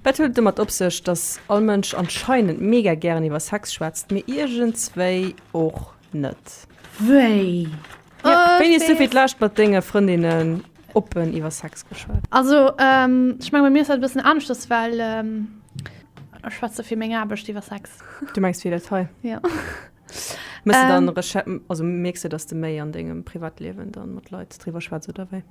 Wat huet et domat op sech, dass all Mënsch anscheinend mega gären iwwer Sex schwätzt, mir iergendswéi och net? Wéi? Wéini hues du fir d'lescht mat denge Frëndinnen oppen iwwer Sex geschwat? Also ech menge bei mir ass dat e bëssen aneschters, well ech schwätze fir meng Aarbecht iwwer Sex. Du mengs fir dat hei? Jo. Mierks de, dass de méi an dengem Privatliewen da mat Leit driwwer schwätz, oder wéi?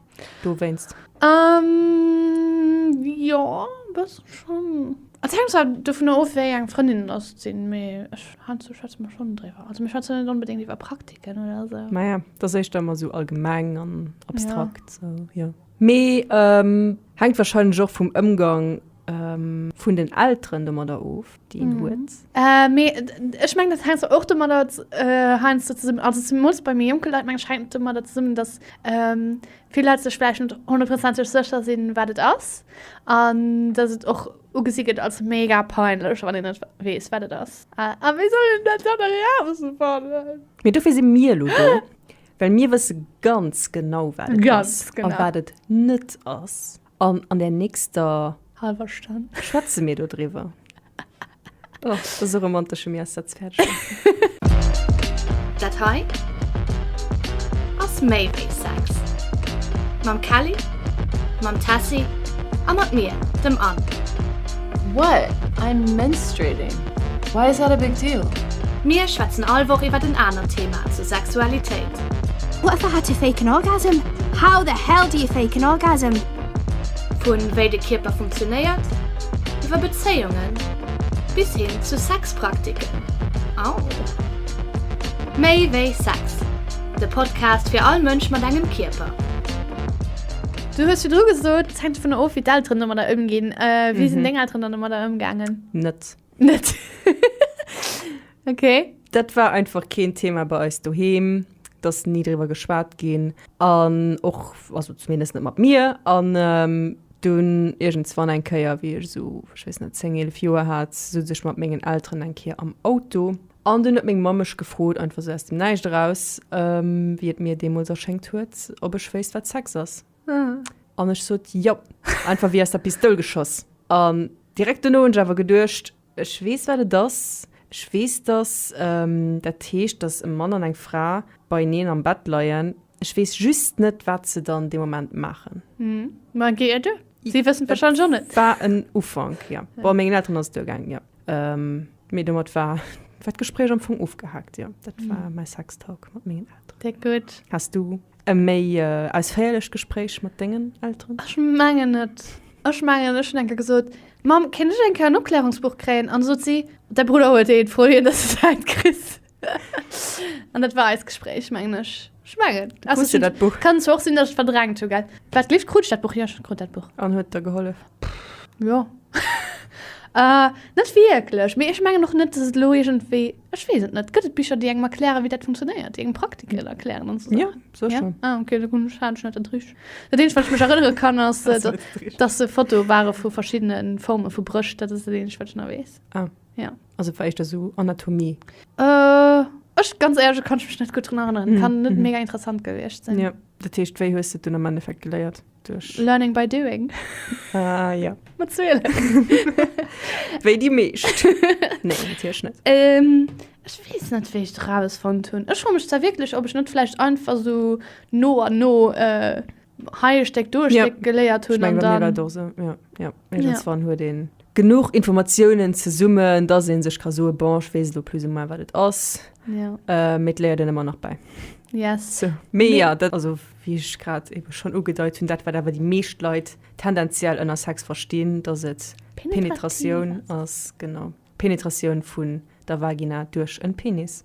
dowéinst. Umm, jo, e bëssen schonn. Et hänkt zwar dovunner of, wéi eng Frëndinnen datt sinn, mee ech, heiansdo schwätze mer schonn driwwer. Also mir schwätzen net onbedéngt iwwer Praktiken oder esou. Maja, et ass éischter ëmmer esou allgemeng an abstrakt, esou, jo. Mee hänkt warscheinlech och vum Ëmgang vun den Elteren domadder of. déi een huet. Äh, mee ech mengen, dat hänkt zwar och domadder heiansdo zesummen, also zemools bei méi jonke Leit, mengen ech, hänkt et domadder zesummen, datt vill Leit sech vläicht net honnertprozenteg sécher sinn, wat et ass an datt et och ugesi gëtt als mega peinlech, wann een net weess, wat et ass. A wéi soll een dat dann erausfannen? Mee dofir si mir elo do, well mir wësse ganz genau, wat et ass a wat et net ass. An an der nächster. Halwer Stonn. Schwätze mir do driwwer. Oh, dat ass e romantesche Miassatz-Päercher. Dat hei ass méi wéi Sex. Mam Kelly, mam Tessy a mat mir, dem Anne. What? I'm menstruating. Why is that a big deal? Mir schwätzen all Woch iwwer en anert Thema zur Sexualitéit. What the hell to fake an orgasm? How the hell do you fake an orgasm? Vun wéi de Kierper funktionéiert, iwwer Bezéiungen bis hin zu Sexpraktiken. Au! Méi wéi Sex, de Podcast fir all Mënsch mat engem Kierper. Du hues virdru gesot, et hänkt dovunner of, wéi d'Elteren domadder ëmginn. Wéi sinn deng Elteren dann domadder ëmgaangen? Net. Net. Okay. Dat war einfach keen Thema bei eis doheem. D'ass ni driwwer geschwat ginn. An och, also zumindest net mat mir. An dunn iergendswann eng Kéier, wéi ech esou, ech weess net, zéng, eelef Joer hat, souz ech mat mengen Elteren eng Kéier am Auto. An dunn huet meng Mamm mech gefrot, einfach esou aus dem Näischt eraus, wéi et mir deemools erschéngt huet, ob ech wéisst, wat Sex ass. An ech sot, Jo. Einfach wéi aus der Pistoul geschoss. An direkt dono hunn ech awer geduecht, Ech weess, wat et ass. Ech weess, dass dat heescht, dass e Mann an eng Fra beieneen am Bett leien. Ech weess just net, wat se dann dee Moment maachen. Mä GED, si wëssen et warscheinlech och net. Et war en Ufank, jo. Bon, mengen Elteren ass et duergaangen, jo. Mee domat war d'Gespréich am Fong ofgehaakt, jo. Dat war mäi Sextalk mat mengen Elteren. Déck gutt. Häss du E méi ausféierlecht Gespréich mat dengen Elteren? Ech mengen net. Ech mengen ech hunn eng Kéier gesot, Mamm, kéint ech eng Kéier en Opklärungsbuch kréien? An da sot si, Däi Brudder huet eent, fro hien, dass du säint kriss. An dat war eist Gespréich, mengen ech. Ech mengen. Hues du dat Buch? Kann zwar och sinn, dass ech et verdrängt hu, gell. Wat gleeft, krut ech dat Buch? Jo, ech krut dat Buch. An huet et der gehollef? Jo. Net wierklech. Mee ech mengen och net, dass et elo iergendwéi. Ech weess et net. Gëtt et Bicher, déi engem erklären, wéi dat funktionéiert, déi engem Praktiken erklären an esou Saachen? Jo, sécher. Ja? Ah, okay, da hunn ech, hat ech net den Trick. Dat eenzegt, wat ech mech erënnere kann, ass, Hast du net den Trick? dass se Fotoe ware vu verschiddene Forme vu Brëscht. Dat ass dat eenzegt, wat ech nach weess. Ah. Ja. Also war éischter esou Anatomie. Äh, ech, ganz éierlech, da kann ech mech net gutt drun erënneren. Kann net mega interessant gewiescht sinn. Jo, dat heescht, wéi hues du et dunn am Endeffekt geléiert? Duerch. Learning by doing. Ah, ja. Mat Zuelen. Wéi déi meescht. Nee, natierlech net. Ähm, ech weess net, wéi ech dat erausfonnt hunn. Ech froe mech zwar wierklech, ob ech net vläicht einfach sou no an no, äh, hei e Stéck, do e Ja. Stéck geléiert hunn an dann. Ech meng, bei mir war et och esou, ja, ja. Irgendwann ja. huet een genug Informationen zesummen, dass een sech kann soen, bon, ich weiß lo plus ou moins, wat et ass. Ja. Äh, mit léiert den immer nach bei. Yes. So. Mee nee. ja, dat, also wie ich grad eben schon ugedeit hun, dat wat awer die meescht Leit tendenziell ënner Sex verstehen, dass et Penetration ass, genau. Penetration vun der Vagina durch en Penis.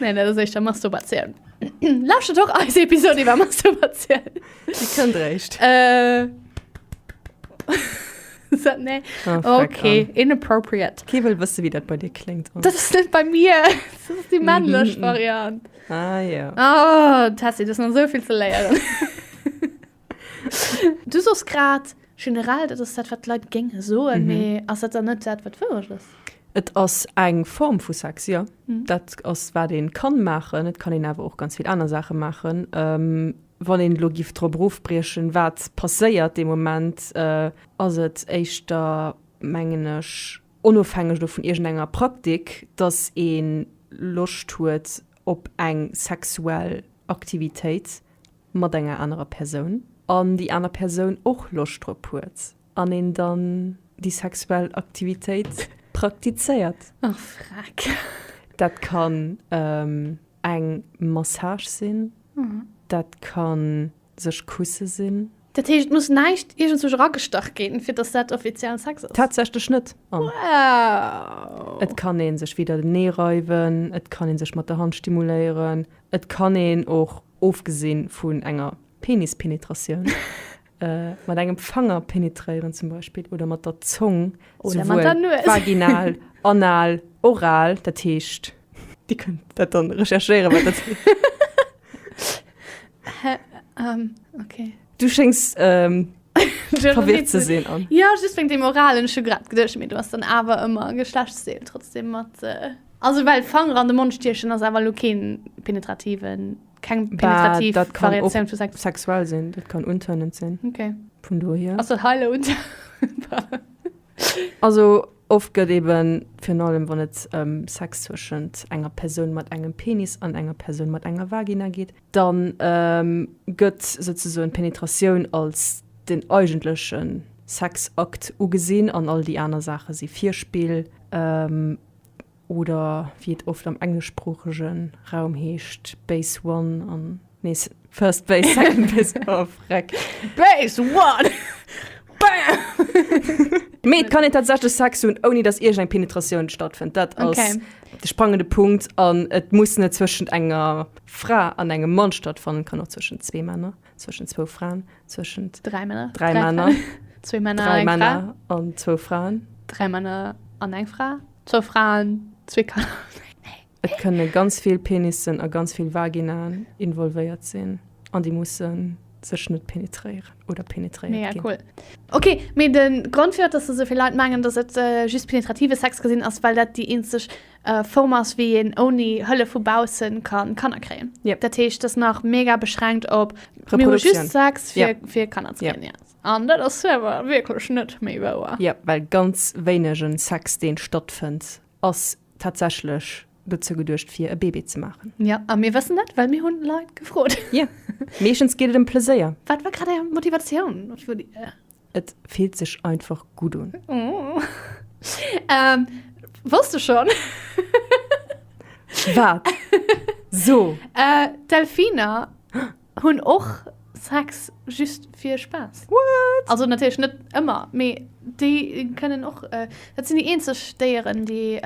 Nee, dat ass éischter Masturbatioun. Lauschtert och eis Episode iwwer Masturbatioun. Déi kënnt réischt. Äh. So, nee. Ah, fuck, Okay, inappropriate. Kee wëll wësse wéi dat bei dir kléngt. Das ist nicht bei mir. Das ist die männliche Mhm. Variante. Ah ja. Ah, Tessie, das ist noch so viel zu lernen. Du sos grad generell, dat ass dat, wat d'Leit géinge soen. Mee mhm. ass dat dann net dat, wat wourecht ass? Et ass eng Form vu Sex, ja. Mhm. Dat ass wat een kann maachen. Et kann een awer och ganz vill aner Saache maachen. Ähm, wann een lo gift drop rofbriechen, wat passéiert de Moment, äh, ass et éischter mengen ech onofhängeg do vun iergendenger Praktik, datt een Loscht huet op eng sexuell Aktivitéit. mat enger anerer Persoun an déi aner Persoun och Loscht drop huet an een dann déi sexuell Aktivitéit praktizéiert. Oh freck. Dat kann eng Massage sinn, dat ka sech kusse sinn. Dat heescht, et muss näischt iergendsouch eragestach ginn, fir datt dat offiziellen Sex ass? Tatsächlech net. Wow. Et kann ee sech weder den Nee reiwen, et kann ee sech mat der Hand stimuléieren, et kann een och ofgesinn vun enger Penispenetratioun, mat engem Fanger penetréieren zum Beispill oder mat der Zong, souwuel vaginal, anal, oral, dat heescht. Dir kënnt dat dann recherchéieren, wat dat heescht. Hä? Ok. Du schéngst ähm, verwirrt ze sinn. An. Ja just wéng dem Oralen scho grad gedech mir du ass dann awer ëmmer Geschlechtsdeel trotzdem mat. Äh, also well Fanger an de Mond stiechen ass awer lo keen penetrativen keng penetrativ bah, dat kann Variation vu Sex. sexuell sinn, dat kann untönend sinn. Okay. Vun do hier. Also heile und. also oft gëtt eben fir allem wann et ähm, Sex zwëschent enger Persoun mat engem Penis an enger Persoun mat enger Vagina geet, Dann gëtt souzesoen d'Penetratioun als den eigentleche Sexakt ugesinn an all déi aner Saache si Virspill, oder wéi et oft am engleschsproochege Raum heescht, Base One an, nee, First Base, Second Base, oh freck! Base One! Bam! Mee et kann een tatsächlech Sex hunn, ouni datt iergend eng Penetratioun stattfënnt. Dat ass. De sprangende Punkt, an et muss net zwëschent enger Fra an engem Mann stattfannen, et kann och zwëschent zwee Männer, zwëschent zwou Fraen, zwëschent. Dräi Männer. Dräi Männer. Zwee Männer. Dräi Männer an zwou Fraen. Dräi Männer an eng Fra. Zwou Fraen, zwee Kanner. Et kënne ganz vill Penissen a ganz vill Vaginaen involvéiert sinn an déi mussen. sech net penetréieren oder penetréiert Mega gin. cool. Ok, mee de Grond fir dass esou vill Leit mengen dass et just penetrative Sex ka sinn ass well dat déi eenzeg Form ass wéi een ouni Hëllef vu baussen ka Kanner kréien. Yep. Dat heescht dass nach mega beschränkt op mir hu just Sex fir, yep. fir Kanner ze kréien. Yep. An dat ass awer wierklech net méi wouer. Yep, well ganz wéinegen Sex deen stattfënnt Ass tatsächlech dozou geduecht fir e Bébé ze maachen. Ja, a mir wëssen dat, well mir hunn Leit gefrot. Jo, meeschtens geet et ëm Pleséier. Wat war grad Är Motivatioun vu Dir? Et fillt sech einfach gutt un. Oh. Ähm, wosst de schonn? Wat? So! Äh, Delfiner. Hunn och Sex just fir Spaass. What? Also natierlech net ëmmer, mee déi kënnen och, dat sinn déi eenzeg Déieren, déi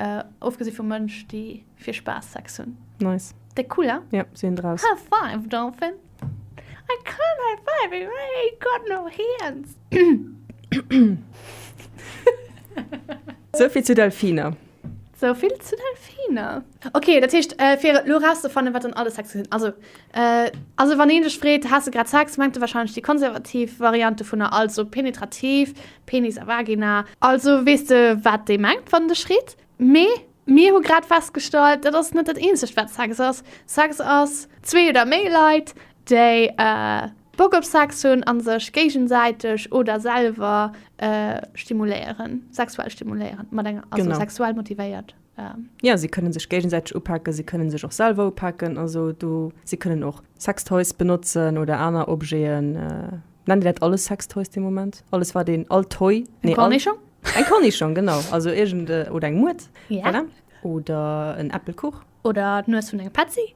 ofgesi vum Mënsch, déi fir Spaass Sex hunn. Nice. Déck cool, ha? Ja, si hunn draus. High five, Dolphin. I can't high five if I ain't got no hands. Souvill zu Delfiner. Sou vill zu Delfiner. Ok, dat heescht fir elo rauszefannen wat dann alles Sexen sinn, also also wann een dech freet, haas de grad Sex, mengt e wahrscheinlech déi konservativ Variant dovunner, also penetrativ, Penis a Vagina. Also weess de wat dee mengt wann en dech freet. Mee mir hu grad festgestallt, dat ass net dat eenzegt wat Sex ass. Sex ass zwee oder méi Leit déi Bock op Sex hunn an sech géigensäiteg oder selwer stimuléieren, sexuell stimuléieren mat enger, also sexuell motivéiert. Jo, si kënnen sech géigensäiteg upaken, si kënnen sech och selwer upaken, also do, si kënnen och Sextoys benotzen oder aner Objeten, nennt Dir dat alles Sextoys dee Moment? Alles wat een, all Toy, nee, all. Eng Cornichong? Eng Cornichong, genau, also iergend, oder eng Muert, voilà, oder en Äppelkuch. Oder d'Nues vun enger Petzi.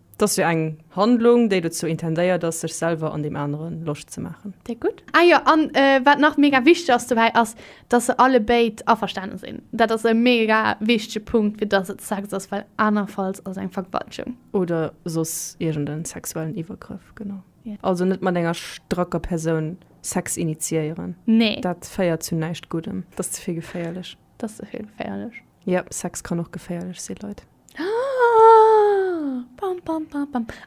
T'ass jo eng Handlung, déi dozou intendéiert ass, sech selwer an deem anere Loscht ze maachen. Déi gutt. Ah jo, an wat nach mega wichteg ass dobäi, ass, dass se allebéid averstane sinn. Dat ass e mega wichtege Punkt, fir dass et Sex ass, well anerfalls ass eng Vergewaltegung. Oder soss iergend e sexuellen Iwwergrëff, genau. Also net mat enger stracker Persoun Sex initiéieren. Nee. Dat féiert zu näischt Guddem. T'ass ze vill geféierlech. T'ass ze vill geféierlech. Yep, Sex kann och geféierlech sinn, Leit.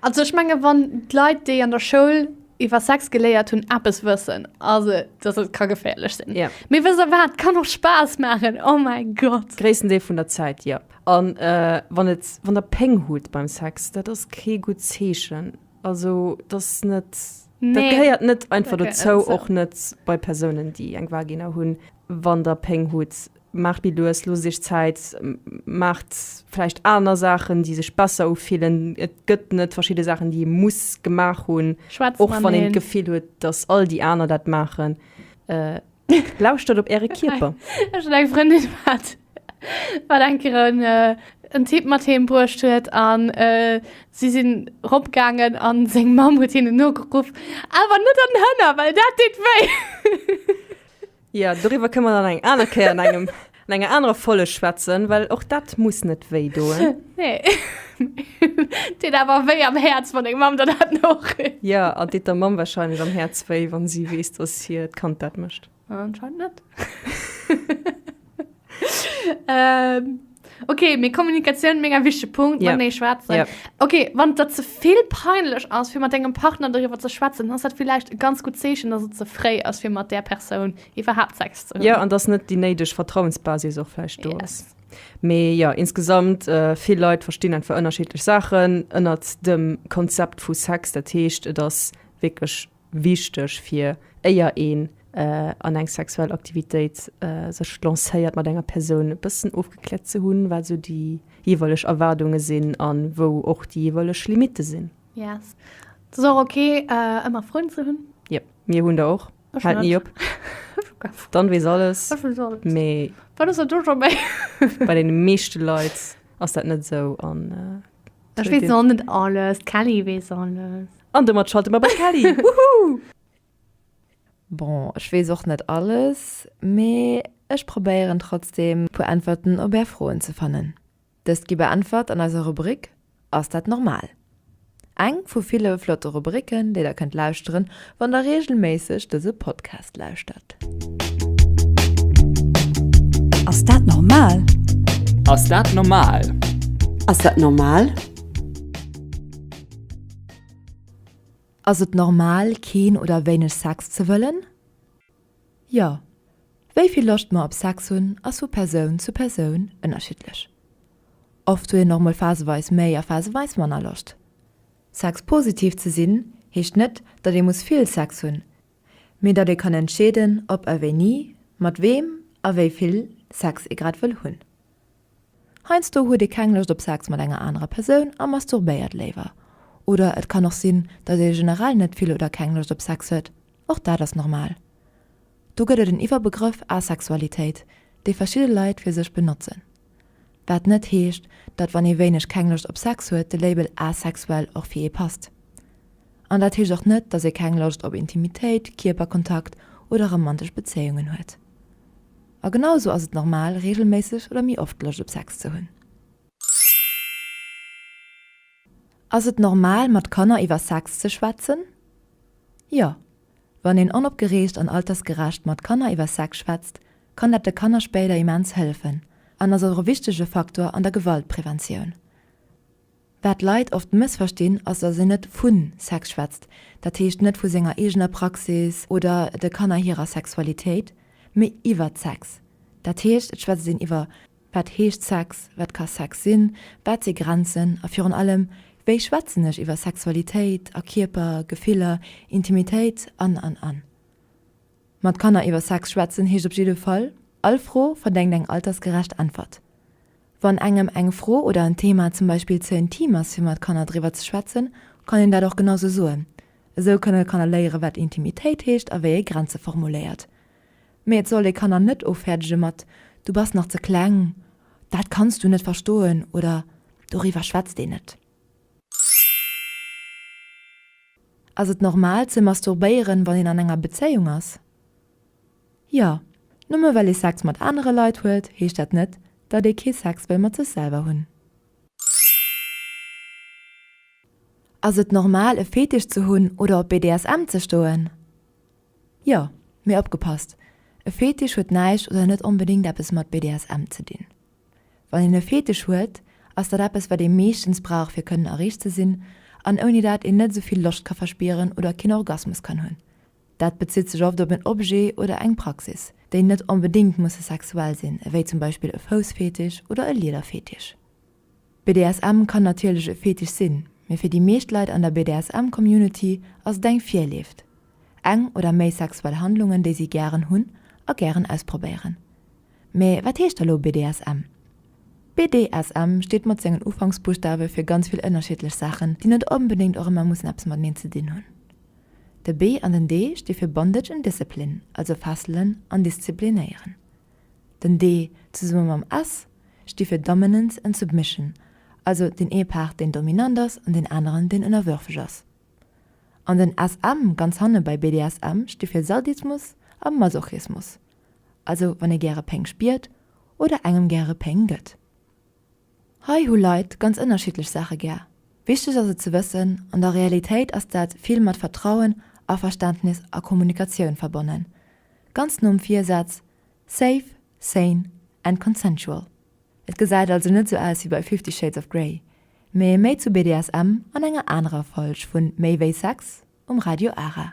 Also ech menge wann d'Leit déi an der Schoul iwwer Sex geléiert hunn Appes wëssen as et dass et ka geféierlech sinn. Ja. Mee wëss der wat, kann och Spaass maachen, oh mäi Gott. Gréissten Deel vun der Zäit, jo. An wann et, wann der Péng hutt beim Sex, dat ass kee gutt Zeechen. Also et ass net, dat gehéiert net einfach dozou, och net bei Persounen déi eng Vagina hunn, wann der Péng hutt. Maacht méi lues, loosst iech Zäit, maacht vläicht aner Saachen, déi sech besser ufillen. Et gëtt net verschidde Saachen, déi ee muss gemaach hunn, och wann een d'Gefill huet, datt all déi aner dat maachen. Lauschtert op äre Kierper. Ech hunn eng Frëndin, wat wat eng Kéier en Typ mat heem bruecht huet a si sinn ropgaangen a seng Mamm huet hinnen nogeruff, Awer net an d'Hënner, well dat deet wéi. Ja, doriwwer kënne mer dann eng aner Kéier an engem, an enger anerer Folge schwätzen, well och dat muss net wéi doen. Nee. Deet awer wéi am Häerz, wann deng Mamm der dat noreet. Ja, an deet der Mamm warscheinlech am Häerz wéi, wann si weess, dass hiert Kand dat mécht. Anscheinend net. ähm, okay, mir Kommunikation mega wichtig Punkt, ja. nee, schwätzen. Ja. Okay, wann das zu viel peinlich ist, für mit deinem Partner darüber zu schwätzen, dann ist das vielleicht ein ganz gutes Zeichen, dass es zu frei ist, für mit der Person überhaupt Sex zu haben. Ja, und das nicht die nötige Vertrauensbasis auch vielleicht yes. da ist. Mee ja insgesamt äh, vill Leiit verstinn en ver ënnerscheetlech Saachen ënnert dem Konzept vu Sex, dat heescht, et ass wécklech wichteg fir éier een an eng sexuell Aktivitéit sech lancéiert mat enger Persoun e bëssen ofgekläert ze hunn, wat esou déi jeeweileg Erwaardunge sinn an wou och déi jeeweileg Limitte sinn. Yes. Et ass och ok ëmmer Froen ze hunn. Yep, mir hunn der och. Haalt ni op. D'Anne weess alles. Ech weess alles. Mee. Wat ass dat do scho méi? Bei deene meeschte Leit ass dat net esou an Ech wees nach net alles, d'Kelly wees alles. An domat schalte mer bei d'Kelly. Woohoo! Bon, ech wees och net alles, mee ech probéieren trotzdem puer Äntwerten op är Froen ze fannen. Dëst gi beäntwert an eiser Rubrik Ass dat normal? Eng vu ville flotte Rubriken, déi der kënnt lauschteren, Wann der reegelméisseg dëse Podcast lauschtert. Ass dat normal? Ass dat normal? Ass dat normal? Ass et normal, keen oder wéineg Sex ze wëllen? Jo. Wéi vill Loscht mer op Sex hunn, ass vu Persoun zu Persoun ënnerschiddlech. Oft huet een och mol phaseweis méi a phaseweis manner Loscht. Sexpositiv ze sinn heescht net, datt ee muss vill Sex hunn, mee datt ee kann entscheeden, ob a wéini, mat weem a wéi vill Sex ee grad wëll hunn. Heiansdo huet ee keng Loscht op Sex mat enger anerer Persoun a masturbéiert léiwer. Oder et kann och sinn, datt ee generell net vill oder keng Loscht op Sex huet. Och dat ass normal. Do gëtt et en Iwwerbegrëff Asexualitéit, dee verschidde Leit fir sech benotzen. Wat net heescht, datt wann ee wéineg keng Loscht op Sex huet, de Label asexuell och fir ee passt. An dat heescht och net, datt ee keng Loscht op Intimitéit, Kierperkontakt oder romantesch Bezéiungen huet. A genau esou ass et normal, reegelméisseg oder méi oft Loscht op Sex ze hunn. Ass et normal, mat Kanner iwwer Sex ze schwätzen? Jo. Wann een onopgereegt an altersgerecht mat Kanner iwwer Sex schwätzt, kann dat de Kanner spéider immens hëllefen an ass och e wichtege Faktor an der Gewaltpreventioun. Wat Leit oft mëssverstinn, ass, datt een net vu Sex schwätzt, dat heescht net vu senger eegener Praxis oder de Kanner hirer Sexualitéit, mee iwwert Sex. Dat heescht, et schwätzt een iwwer Wat heescht Sex? Wat ka Sex sinn? Wat si Grenzen? A virun allem, wéi schwätzen ech iwwer Sexualitéit a Kierper, Gefiller, Intimitéit an, an, an? Mat Kanner iwwer Sex schwätzen heescht op jidde Fall, All Fro verdengt eng altersgerecht Äntwert. Wann engem eng Fro oder en Thema zum Beispill ze intim ass fir mat Kanner driwwer ze schwätzen, kann een dat och genau sou soen. Esou kënne Kanner léiere wat Intimitéit heescht a wéi ee Grenze formuléiert. Mee et soll ee Kanner net ofäerdege mat Du bass nach ze kleng, dat kanns du net verstoen oder Doriwwer schwätzt een net. Ass et normal ze masturbéieren, wann een an enger Bezéiung ass? Jo. Nëmme well ee Sex mat anere Leit huet, heescht dat net, datt ee kee Sex wëll mat sech selwer hunn. Ass et normal e Fetisch ze hunn oder op BDSM ze stoen? Jo, mee opgepasst, e Fetisch huet näischt oder net onbedéngt eppes mat BDSM ze dinn. Wann een e Fetisch huet, ass dat eppes, wat ee meeschtens brauch fir kënnen erreegt ze sinn an ouni dat een net esou vill Loscht ka verspieren oder keen Orgasmus kann hunn. Dat bezitt sech oft op en Objet oder eng Praxis, déi net onbedéngt musse sexuell sinn, ewéi zum Beispill e Foussfetisch oder e Liederfetisch. BDSM kann natierlech e Fetisch sinn, mee fir déi meescht Leit an der BDSM-Community ass et eng Virlieft, eng oder méi sexuell Handlungen, déi si gären hunn a gären ausprobéieren. Mee wat heescht da lo BDSM? BDSM steet mat sengen Ufanksbuschtawe fir ganz vill ënnerschiddlech Saachen, déi net onbedéngt och ëmmer mussen eppes mateneen ze dinn hunn. De B an den D sti fir Bondage and Discipline, also fesselen an disziplinéieren. Den D zesumme mam S sti fir Dominance and Submission, also deen ee Part deen dominant ass an deen aneren deen ënnerwürfeg ass. An den SM ganz hanne bei BDSM sti fir Sadismus a Masochismus, also wann ee gäre Péng spiert oder engem gäre Péng gëtt. Hei hu Leit ganz ënnerschiddlech Saache gär. Wichteg ass et ze wëssen, an der Realitéit ass dat vill mat Vertrauen, Averständnis a Kommunikatioun verbonnen. Ganz nom Virsaz Safe, Sane and Consensual. Et gesäit also net sou aus wéi bei Fifty Shades of Grey, mee méi zu BDSM an enger anerer Folg vun Méi wéi Sex um Radio Ara.